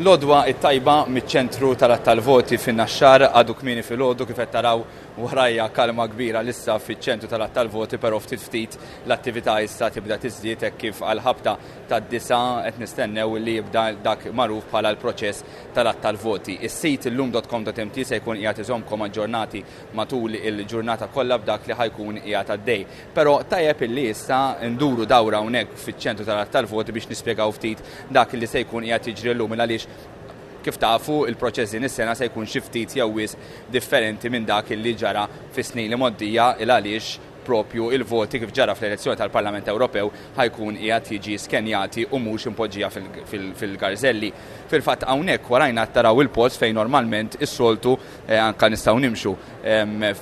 L-għodwa t-tajba miċ-ċentru tal-għadd tal-voti fin-Naxxar, għadu kmieni filgħodu kif qed taraw warajja kalma kbira lissa fiċ-ċentru tal-għadd tal-voti però ftit ftit l-attività issa tibda tiżdied hekk kif għall-ħabta tad-disgħa qed nistennew li jibda dak magħruf bħala l-proċess tal-għadd tal-voti. Is-sit illum.com.mt se jkun qiegħed iżommkom aġġornati matul il-ġurnata kollha b'dak li ħa jkun qiegħed għaddej. Però tajjeb illi issa nduru dawra hawnhekk fiċ-ċentru tal-għadd tal-voti biex nispjegaw ftit dak li se jkun qiegħed jiġri llum il għaliex kif tafu il-proċess din is-sena se jkun xi ftit jew wisq differenti minn dak illi ġara fis-snin li mgħoddija il għaliex propju il-voti kif ġara fl-elezzjoni tal-Parlament Ewropew ħa jkun qiegħed jiġi skenjati u mhux impoġġija fil-garżelli. Fil-fatt hawnhekk warajna qed taraw il-post fejn normalment is-soltu anke nistgħu nimxu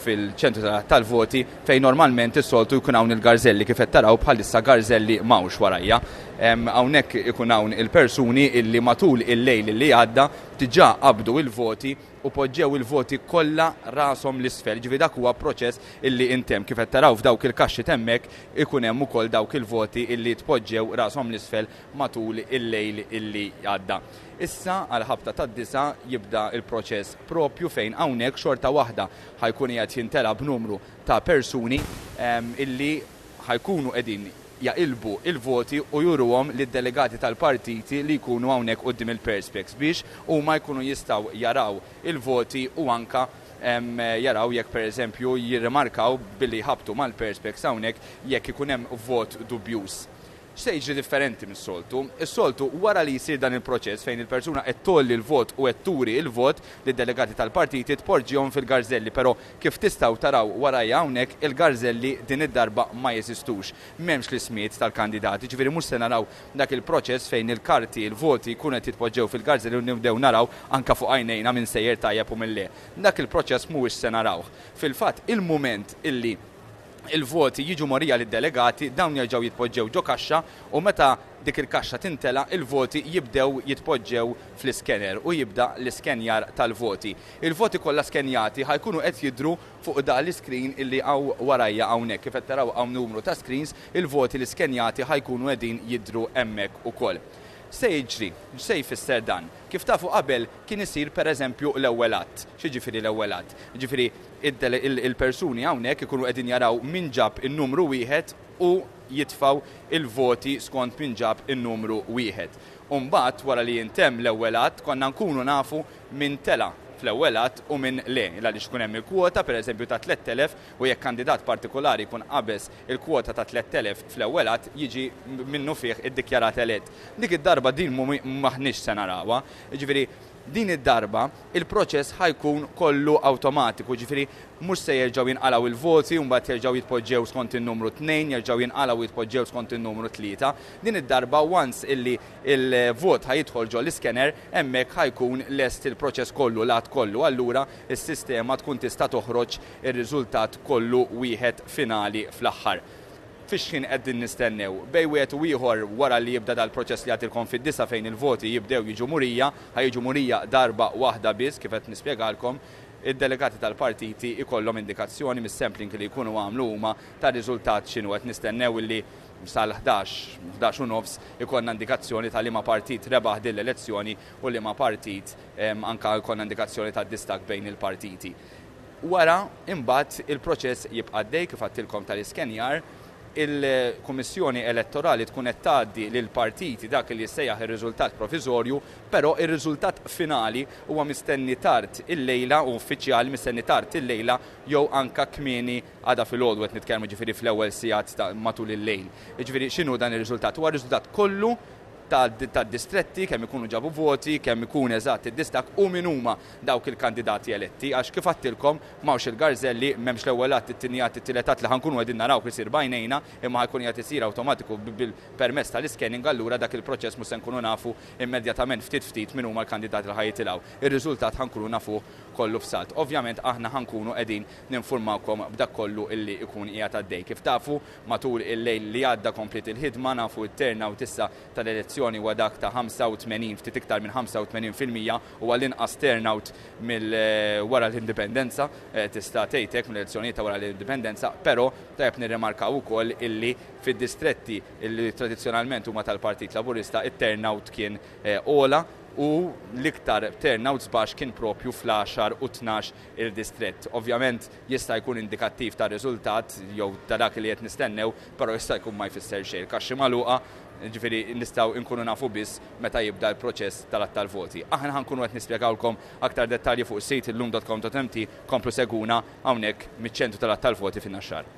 fil-ċentru tal-għadd tal-voti fejn normalment is-soltu jkun hawn il-garżelli kif qed taraw bħalissa garżelli m'hawnx warajja. Hawnhekk ikun hawn il-persuni illi matul il-lejl illi għadda diġà qabdu il-voti u poġġew il-voti kollha rashom l-isfel, jiġifieri dak huwa proċess illi intemm. Kif qed taraw f'dawk il-kaxxi t'hemmhekk ikun hemm ukoll dawk il-voti illi tpoġġew rashom l-isfel matul il-lejl illi għadda. Issa għal ħabta tad-disgħa jibda l-proċess proprju fejn hawnhekk xorta waħda ħa jkun qiegħed jimtela b'numru ta' persuni illi ħa jkunu qegħdin jaqilbu l-voti u juruhom lid-delegati tal-partiti li jkunu hawnhekk quddiem il-perspex biex huma jkunu jistgħu jaraw il-voti u anke jaraw jekk pereżempju jirrimarkaw billi jħabbtu mal-perspex hawnhekk jekk ikun hemm vot dubjuż. X'se jiġri differenti mis-soltu? Is-soltu, wara li jsir dan il-proċess fejn il-persuna qed tgħolli l-vot u qed turi l-vot lid-delegati tal-partiti tpoġġihom fil-garżelli però kif tistgħu taraw warajja hawnhekk il-garżelli din id-darba ma jeżistux. M'hemmx l-ismijiet tal-kandidati ġifieri mhux se naraw dak il-proċess fejn il-karti, il-voti jkunu qed jitpoġġew fil-garżelli u nibdew naraw anke fuq għajnejna min sejjer tajjeb u min le. Dak il-proċess mhuwiex se narawh. Fil-fatt il-mument illi il-voti jiġu mogħrija lid-delegati, dawn jerġgħu jitpoġġew ġo kaxxa u meta dik il-kaxxa tintela' il-voti jibdew jitpoġġew fl-iskener u jibda l-iskenjar tal-voti. Il-voti kollha skenjati ħa jkunu qed jidhru fuq da l-iskrin illi hawn warajja hawnhekk. Kif qed taraw hawn numru ta' screens, il-voti li skenjati ħa jkunu qegħdin jidhru hemmhekk ukoll. X'se jiġri? X'se jfisser dan? Kif tafu qabel kien isir pereżempju l-ewwel għadd. X'jiġifieri l-ewwel għadd? Jiġifieri il-persuni hawnhekk ikunu qegħdin jaraw min ġab in-numru wieħed u jitfgħu l-voti skont min ġab in-numru wieħed. U mbagħad wara li jintemm l-ewwel għadd konna nkunu nafu min tela' fl-ewwel għadd u min le, għaliex ikun hemm il-kwota pereżempju ta' 3,000 u jekk kandidat partikolari jkun qabeż il-kwota ta' 3,000 fl-ewwel għadd jiġi minnufih iddikjarat elett. Dik id-darba din m'aħniex se narawha. Jiġifieri Din id-darba, il-proċess ħa jkun kollu awtomatiku, jiġifieri mhux se jerġgħu jinqalgħu il-voti u mbagħad jerġgħu jitpoġġew skont in-numru tnejn, jerġgħu jinqalgħu u jitpoġġew skont in-numru tlieta. Din id-darba once illi l-vot ħa jidħol ġol-iskener, hemmhekk ħa jkun lest il-proċess kollu, l-għadd kollu, allura s-sistema tkun tista' toħroġ ir-riżultat kollu wieħed finali fl-aħħar. Fix-xħin qegħdin nistennew. Bejn wieħed u ieħor wara li jibda dal-proċess li għadtilkom fid-disgħa fejn il-voti jibdew jiġu murija, ħa jiġu murija darba waħda biss kif qed nispjegalkom, id-delegati tal-partiti jkollhom indikazzjoni mis-sampling li jkunu għamlu huma tar-riżultat x'inhu. Qed nistennew illi sal-ħdax, ħdax u nofs ikollna indikazzjoni ta' liema partit rebaħ din l-elezzjoni u liema partit anke jkollna indikazzjoni tad-distakk bejn il-partiti. Wara, imbagħad, il-proċess jibqa' għaddej, kif għadtilkom, tal-iskenjar. Il-Kummissjoni Elettorali tkun qed tgħaddi lill-partiti dak li jissejjaħ ir-riżultat proviżorju, però r-riżultat finali huwa mistenni tard illejla u uffiċjali mistenni tard illejla jew anke kmieni għada filgħodu qed nitkellmu, jiġifieri fl-ewwel sigħat ta' matul il-lejl. Jiġifieri x'inhu dan ir-riżultat? Huwa r-riżultat kollu tad-distretti, kemm ikunu ġabu voti, kemm ikun eżatt id-distakk u min huma dawk il-kandidati eletti għax kif għadtilkom m'hawnx il-garżelli, m'hemmx l-ewwel għadd, it-tieni għadd, it-tielet għadd li ħa nkunu qegħdin narawh isir b'għajnejna imma ħa jkun qiegħed isir awtomatiku bil-permezz tal-iscanning allura dak il-proċess mhux se nkunu nafu immedjatament ftit ftit min huma l-kandidati li ħa jitilgħu. Ir-riżultat ħa nkunu nafuh kollu f'salt. Ovvjament aħna ħa nkunu qegħdin ninfurmawkom b'dak kollu li jkun qiegħed għaddej. Kif tafu matul il-lejl li għadda kompliet il-ħidma, nafu t-turnout issa tal-elezzjoni huwa dak ta' 85 ftit iktar minn 85 fil-mija u għall-inqas turnout mill wara l-Indipendenza, tista' tgħid hekk mill-elezzjonijiet ta' wara l-Indipendenza, però tajjeb nirrimarkaw ukoll illi fid-distretti illi tradizzjonalment huma tal-Partit Laburista t-turnout kien ogħla u l-iktar turnouts baxx kien proprju fl-għaxar u t-tnax il-distrett. Ovvjament, Jista' jkun indikattiv tar-riżultat jew ta' dak li qed nistennew, però jista' jkun ma jfisser xejn. Il-kaxxi magħluqa, jiġifieri nistgħu inkunu nafu biss meta jibda l-proċess tal-għadd tal-voti. Aħna ħa nkunu qed nispjegawlkom aktar dettalji fuq is-sit illum.com.mt, komplu segwuna hawnhekk miċ-ċentru tal-għadd tal-voti fin-Naxxar.